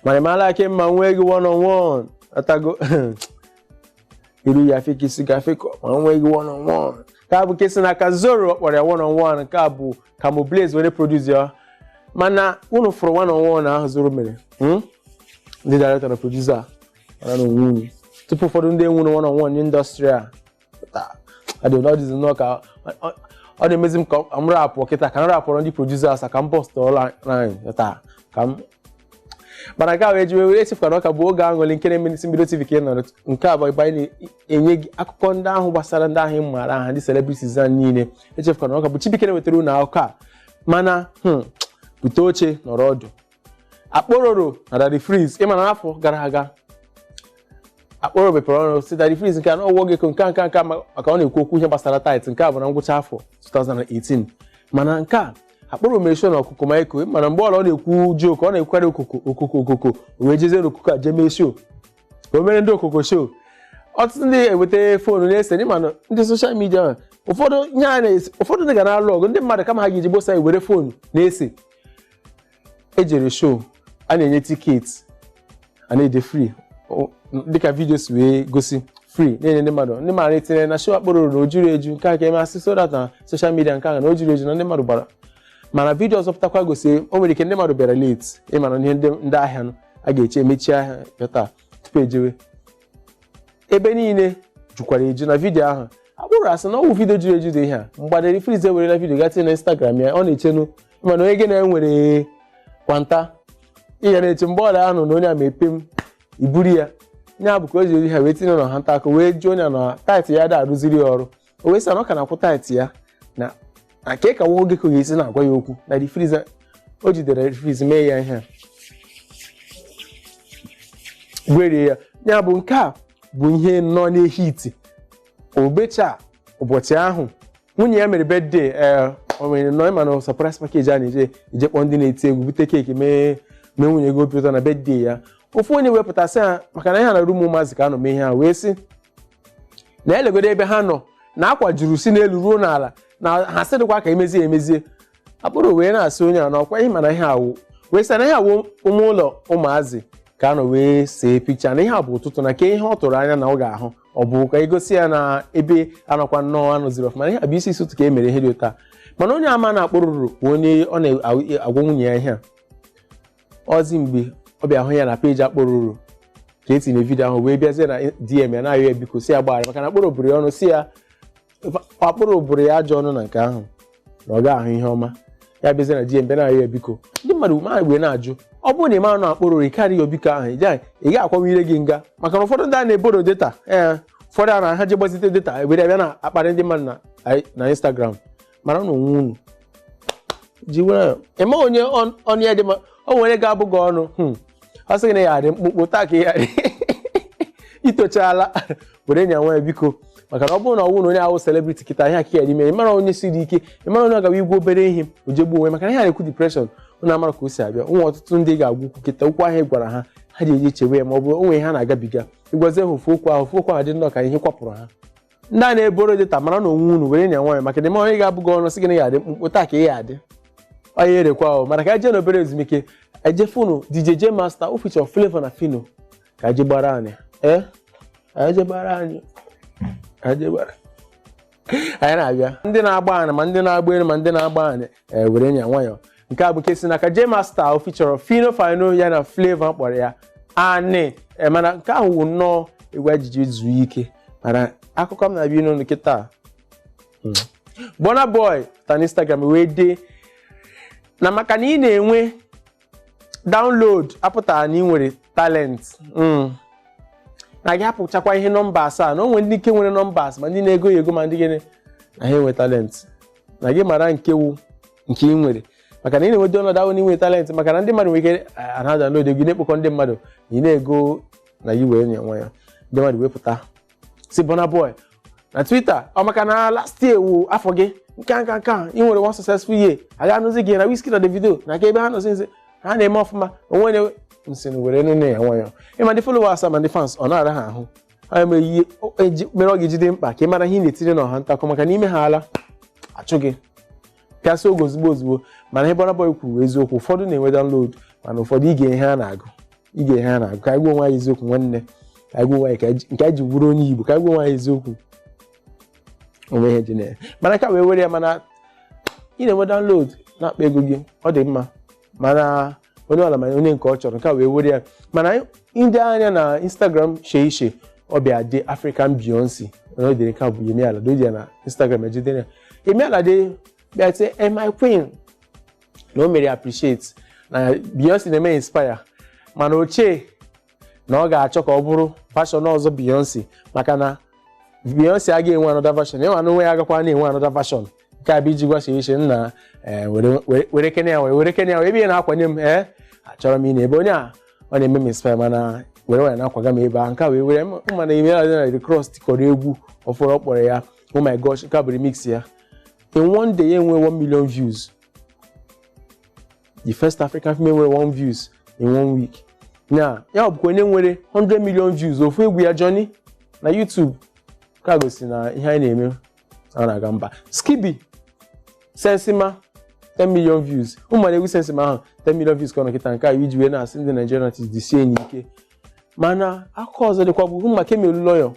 mana ịmala aka mma nwee gị one on one atago iru ya fik isi ga fik ma nwee gị one on one nke a bụ ke si na aka Zoro ọ kpọrọ ya one on one nke a bụ Camo Blaze were produce ya mana unu fụrụ one on one ahụ Zoro mere hmm? ndị director na producer a mara na onwe unu tupu ụfọdụ ndị enwuru one on one n'indọstrị a Taa, ọ dị ọ dịzi nnọọ ka ọ- ọ- ọ na-emezi m ka ọ- m rapụ kịta ka m rapụrụ ndị producers a, ka m post online taa ka m mana nke a wee ji wee were echefukwara ọ ka bụ oge aṅụrị nke na-eme n'Isi Mbido TV ka ị nọrọ nke a bụ ebe anyị na-enye gị akụkọ ndị ahụ gbasara ndị ahụ ị maara aha ndị celebrities a niile echefukwara ọ ka bụ Chibuike na-wetara unu akụkọ a mana hmm, bute oche nọrọ ọdụ Akpororo na Daddy Freeze ịma na afọ gara aga Akpororo mepere ọnụ sị Daddy Freeze nke a na ọwụwa gị nke a nke a nke a ma- maka ọ na-ekwu okwu ihe gbasara tithe nke a bụ na ngwụcha afọ 2018 mana nke a Akpororo mere show na Okokomaiko mana mgbe ọla ọ na-ekwu joke ọ na-ekwukarị okoko okoko okoko o wee jezie n'Okoko a jee mee show o mere ndị Okoko show ọtụtụ ndị eweta foonu na-ese ịma na ndị social media ahụ, ụfọdụ ihe a na-esi ụfọdụ ndị ga na-alụ ọgụ ndị mmadụ kama ha ga-eji gbosa were foonu na-ese ejere show a na-enye tiketi a na-ede free O- m- dịka vidio si wee gosi free na-enye ndị mmadụ ndị mara etinye na show Akpororo na o juru eju nke a ka eme asị so that na social media nke ahụ na o juru eju na ndị mmadụ gbara mana vidio ọzọ pụtakwa gosi o nwere ike ndị mmadụ bịara late ịma na ihe ndị ndị ahịa nọ a ga-eche emechi ahịa ya taa tupu ejewe ebe niile jukwara eju na vidiyo ahụ Akpororo asị na ọwụ vidiyo juru eju dị ihe a mgbe Daddy Freeze ewerela vidiyo ga tinye na Instagram ya ọ na-echenu ịma na onye gị na ya nwere kwanta ị ga na-eche mgbe ọla a nụ na onye a mee pem iburu ya ya bụ ka o jiri ha wee tinye na ha nta aka wee jụọ onye na tithe ya ada arụziri ya ọrụ o wee sị na ọ ka na-akwụ tithe ya na na ka ka nwoke ka ọ ga-esi na-agwa ya okwu Daddy Freeze o jidere Daddy Freeze mee ya ihe a. gwerie ya ya bụ nke a bụ ihe nọ na-ehiti obecha ụbọchị ahụ nwunye ya mere birthday ee o nwere nọ ịma na surprise package a na-eje eje kpọọ ndị na-eti egwu bute keeki mee mee nwunye gị obi ụtọ na birthday ya ofu onye wee pụta sị ha maka na ihe a na room ụmụazị ka a nọ mee ihe a wee sị na elegodo ebe ha nọ na akwa juru si n'elu ruo n'ala na ha sị dịkwa ka emezie emezie Akpororo wee na-asị onye a na ọkwa ịma na ihe a wụ wee sị na ihe a wụ ime ụlọ ụmụazị ka a nọ wee see picture na ihe a bụ ụtụtụ na ke ihe ọ tụrụ anya na ọ ga-ahụ ọ bụ ka egosi ya na ebe anọkwa nnọọ anọziri ọfụma na ihe a bụ isi isi ụtụtụ ka e mere ihe dị ụta mana onye ama na Akpororo bụ onye ọ na-agwa nwunye ya ihe a ọzi mgbe ọ bịa hụ ya na peji Akpororo ka etinye vidio ahụ wee bịazie na dm ya na-ayọ ya biko sị ya gbaghara maka na Akpororo bụrụ ya ọnụ sị ya Akpororo bụrụ ya ajọ ọnụ na nke ahụ na ọ ga-ahụ ihe ọma ya bịazie na dm bịa na-ayọ ya biko ndị mmadụ ma wee na-ajụ ọ bụrụ na ị mara na Akpororo ị ga-arịọ ya biko ahụ ị gaghị ị gaghị akwanwe ire gị nga maka na ụfọdụ ndị a na-eborrow data ee ụfọdụ a na ha je gbazite data were bịa na-akparị ndị mmadụ na- na instagram mara na onwe unu ji were ị ma onye ọ- ọnụ ya dị mma o nwere ga-abụ gị ọnụ hmm, ọ sị gị na ya adị mkpụmkpụ taa ka ị ya adị itochala were nya nwayọ biko maka na ọ bụrụ na ọ wụ na onye ahụ celebrity kịta ihe aka ya dị ime ị mara onye siri ike ị mara onye ọ ga-awụ ị gwa obere ihe o je gbuo onwe ya, maka na ihe a na-ekwu depression unu amara ka o si abịa ụmụ ọtụtụ ndị ị ga-agwa okwu kịta okwu ahụ ị gwara ha ha ji eji echewe ya ma ọ bụ o nwe ihe ha na-agabiga ị gwazie ha ofu okwu ahụ ofu okwu ahụ dị nnọọ ka ihe kwapụrụ ha ndị a na-eborrow data mara na onwe unu were nya nwayọ maka na ị ma onye ga-abụ gị ọnụ sị gị na ya adị mkpụmkpụ taa ka ị ya adị onye erekwa ahụ mana ka eje n'obere ezumike eje funu DJ J Master o feature Flavour na Phyno ka eje gbara Ani ee ka eje gbara Ani ka eje gbara Ani na-abịa ndị na-agba ani ma ndị na-agba elu ma ndị na-agba ani ee were nya nwayọọ nke a bụ nke si n'aka J Master o feature Phyno Phyno ya na Flavour kpọrọ ya Ani ee mana nke ahụ wụ nnọọ egwu e ji je zuo ike mana akụkọ m na-abịa n'ụlọ kịta Burna Boy pụtara n'Instagram wee dee na maka na ị na-enwe download apụtara na ị nwere talent mm. na gị hapụchakwa ihe numbers a na o nwere ndị ike nwere numbers ma ndị na-ego ya ego ma ndị gịnị na ha enwe talent na gị mara nke wụ nke ị nwere maka na ị na-enwe download awụ na ị nwere talent maka na ndị mmadụ nwere ike ana download gị na-ekpokọ ndị mmadụ na ị na-ego na gị were nya nwayọ ndị mmadụ wepụta sị Burna Boy na Twitter ọ maka na last year wụ afọ gị nke a nke a nke a ị nwere one successful year a ga anụzi gị na Wizkid na Davido na ka ebe ha nọzi nzi ha na-eme ọfụma onwe na nsị na were nya nwayọ ma ndị followers ma ndị fans ọ na-ara ha ahụ onye mere ihe o- eji- mere ọ ga-eji dị mkpa ka ị mara ihe ị na-etinye n'ọha ntakụ maka na ime ha ala achụ gị pịasị oge ozugbo ozugbo mana ihe Burna Boy kwuru eziokwu ụfọdụ na-enwe download mana ụfọdụ ị gee ihe ha na-agụ ị gee ihe ha na-agụ ka anyị gwa onwe anyị eziokwu nwanne ka anyị gwa onwe anyị ka anyị- nke anyị ji wụrụ onye Igbo ka anyị gwa onwe anyị eziokwu o nwe ihe dị na ya mana ka e wee were ya mana ị na-enwe download na-akpa ego gị ọ dị mma mana onye ọla ma onye nke ọ chọrọ nke a wee were ya mana anyị- ndị a nọ na instagram shee ishe ọ bịa dee African Beyonce na o dere nke a bụ Yemi Alade o ji ya na instagram ejidere ya Yemi Alade bịa tie "Eh, my queen na o mere appreciate na Beyonce na-eme inspire mana ochie na ọ ga-achọ ka ọ bụrụ version ọzọ Beyonce maka na Beyonce agaghị enwe another version ya nwa n'onwe ya agakwa na-enwe another version nke a bụ iji gwasa iche nna eh, were- were- were kene ya wee were kene ya wee ebe ị na-akwanye m ee achọrọ m ị na-ebe onye a ọ na-eme m inspire mana were were na-akwaga m ebe a nke a wee were m mana Yemi Alade na Rick Ross tikọrọ egwu ọfụrụ ọ kpọrọ ya oh my gosh nke a bụ remix ya in one day ya enwe 1 million views the first African female nwere one views in one week na ya bụkwa onye nwere 100 million views ofu egwu ya Johnny na YouTube ka gosi na ihe anyị na-eme a na-aga mba Skiibii Sensima 10 million views ụmụnna egwu Sensima ahụ 10 million views ka ọ nọ kịta nke a iji wee na-asị ndị Nigerian artists jisienụ ike mana akụkọ ọzọ dịkwa bụ maka Kemi Olunloyo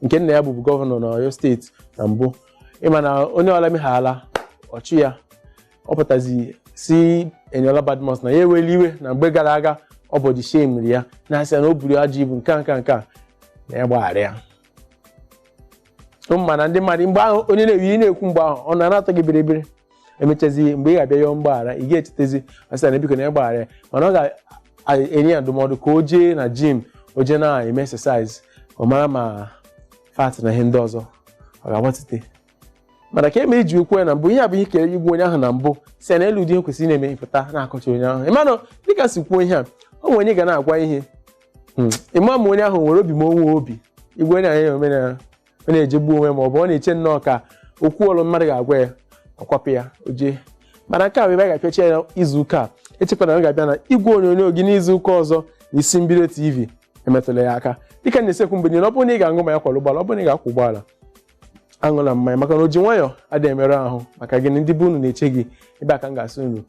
nke nna ya bụbu gọvanọ na Oyo steeti na mbụ ịma na onye ọla meghala ọchị ya ọ pụtazi si Eniola Badmus na ya eweli iwe na mgbe gara aga ọ body shame-iri ya na-asị ya na o buru ajọ ibu nke a nke a nke a na ya gbaghara ya mana ndị mmadụ mgbe ahụ onye na-eyi ị na-ekwu mgbe ahụ ọ na-atọ gị biribiri emechazi mgbe ị ga-abịa yọọ mgbaghara ị ga-echetezi ọ sị na biko na ya gbaghara ya mana ọ ga-enye ya ndụmọdụ ka o jee na gym o jee na-eme exercise ọ mara ma fat na ihe ndị ọzọ ọ ga-agbatite mana Kemi iji okwu ya na mbụ ihe a bụ ihe kere ịgwa onye ahụ na mbụ si na elu ụdị ihe kwesịrị na-eme ịpụta na-akọcha onye ahụ ịmanụ dịka si kwuo ihe a o nwere onye ga na-agwa ihe Hmm. ịma ma onye ahụ nwere obi ma o nwee obi igwe onye ahụ ome na ọ na-eje egbu onwe ma ọ bụ ọ na-eche nnọọ ka okwu ọnụ mmadụ ga-agwa ya ọkwapụ ya oje mana nke a bụ ebe a ga-apịacha ya izu ụka a echekwara na m ga-abịa na igwe onyonyo gị n'izu ụka ọzọ na isi mbido TV emetụla ya aka dịka m na-esi ekwu mgbe niile ọ bụrụ na ị ga-aṅụ mmanya akwọla ụgbọala ọ bụrụ na ị ga-akwọ ụgbọala aṅụla mmanya maka na o ji nwayọọ adịghị emerụ ahụ maka gịnị ndị be unu na-eche gị ebe a ka m ga-asị unu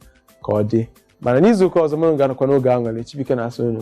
ka ọ dị mana n'izu ụka ọzọ mụrụ ga-anọkwa n'oge Aṅụrị Chibuike na-asị unu